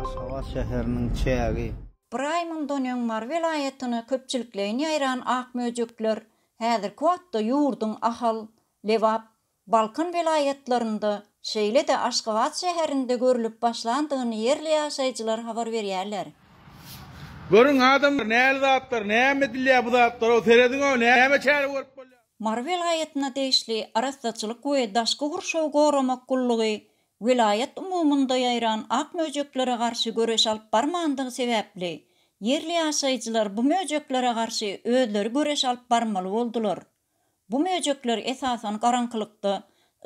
Aşgabat şäheriniň çägi. Bir aý mundan öň Mary welaýatyna köpçülikleýin ýaýran ak möjekler häzirki wagtda ýurduň Ahal, Lebap, Balkan welaýatlarynda, şeýle-de Aşgabat şäherinde görlüp başlandygyny ýerli ýaşaýjylar habar berýärler. Görüň adamlar näli zatlar näme edilýär bu zatlara serediňow näme çäre görüp bolýar. Mary welaýatyna degişli Arassaçylyk we daşky gurşawy goramak gullugy welaýat umumynda ýaýran ak möjeklere garşy göreş alyp barmandygy sebäpli, ýerli ýaşaýjylar bu möjeklere garşy özleri göreş alyp barmaly boldular. Bu möjekler esasan garaňkylykda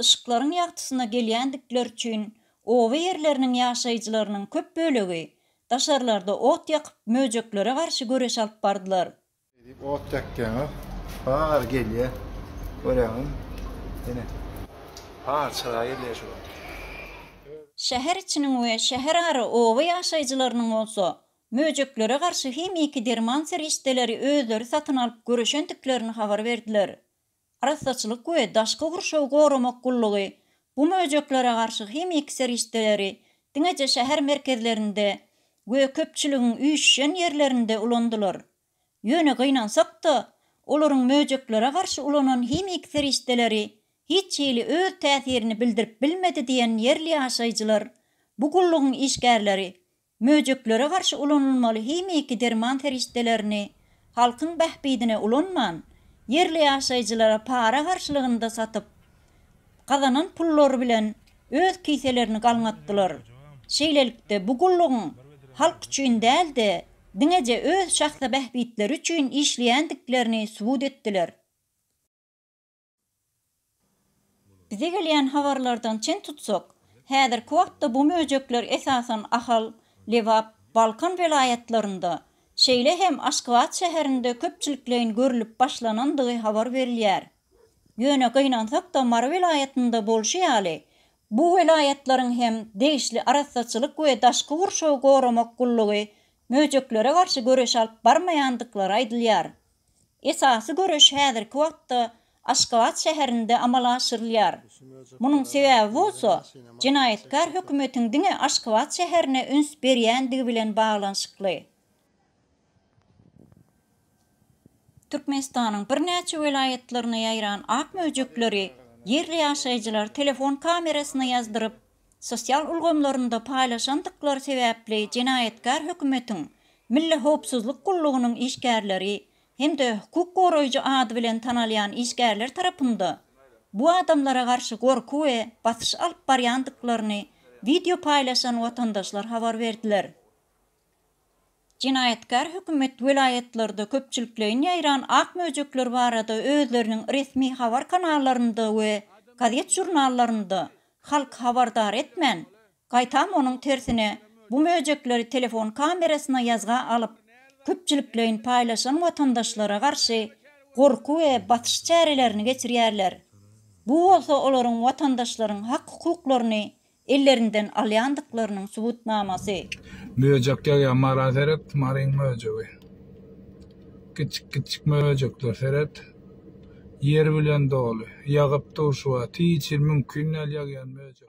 yşyklaryň ýagtysyna gelýändikleri üçin oba ýerleriniň ýaşaýjylarynyň köp bölegi daşarlarda ot ýakyp möjeklere garşy göreş alyp bardylar. Edip ot ýakýaňyz. Bar gelýä. Görýäňizmi? Ine. Bar çyra gelýä şu wagt. Şäher içiniň we şäherara oba ýaşaýjylarynyň bolsa, möjeklere garşy himiki derman serişdeleri özleri satyn alyp göreşendiklerini habar berdiler. Arassaçylyk we daşky gurşawy goramak gullugy bu möjeklere garşy himiki serişdeleri diňeje şäher merkezlerinde we köpçüligiň üýşýän ýerlerinde ulandylar. Ýöne gynansak-da, olaryň möjeklere garşy ulanan himiki serişdeleri hiç hili öz täsirini bildirip bilmedi diýen ýerli ýaşaýjylar bu gullugyň işgärleri Möjeklere garşy ulanylmaly himiki derman serişdelerini halkyň bähbidine ulanman, ýerli ýaşaýjylara para garşylygynda satyp, gazanan pullary bilen öz kiselerini galňatdylar. Şeýlelikde, bu gullugyň halk üçin däl-de, diňeje öz şahsy bähbitleri üçin işleýändiklerini subut etdiler. Bize gelýän habarlardan çen tutsak, häzirki wagtda bu möjekler esasan Ahal, Lebap, Balkan welaýatlarynda, şeýle hem Aşgabat şäherinde köpçülikleýin görlüp başlanandygy habar berilýär. Ýöne gynansak-da Mary welaýatynda bolşy ýaly, bu welaýatlaryň hem degişli arassaçylyk we daşky gurşawy goramak gullugy möjeklere garşy göreş alyp barmaýandyklary aýdylýar. Esasy göreş häzirki wagtda Aşgabat şäherinde amala aşyrylýar. Munuň sebäbi bolsa, jenaýatkär hökümetiň diňe Aşgabat şäherine üns berýändigi bilen baglanyşykly. Türkmenistanyň birnäçe welaýatlaryna ýaýran ak möjekleri ýerli ýaşaýjylar telefon kamerasyna ýazdyryp, sosial ulgamlarynda paýlaşandyklary sebäpli jenaýatkär hökümetiň Milli howpsuzlyk gullugynyň işgärleri hem-de hukuk goraýjy ady bilen tanalýan işgärler tarapynda bu adamlara garşy gorky we basyş alyp barýandyklaryny wideo paýlaşan watandaşlar habar berdiler. Jenaýatkär hökümet welaýatlarda köpçülikleýin ýaýran ak möjekler barada özleriniň resmi habar kanallarynda we gazet-žurnallarynda halky habardar etmän, gaýtam onuň tersine bu möjekleri telefon kamerasyna ýazga alyp, köpçülikleýin paýlaşan watandaşlara garşy gorky we basyş çärelerini geçirýärler. Bu bolsa olaryň watandaşlaryň hak-hukuklaryny ellerinden alýandyklarynyň subutnamasy. Möjek ýagýar mara seret maryň möjegi kiçjik kiçjik möjekler seret ýer bilen doly ýagyp dur şu wagt hiç hil mümkin däl ýagýan möjek.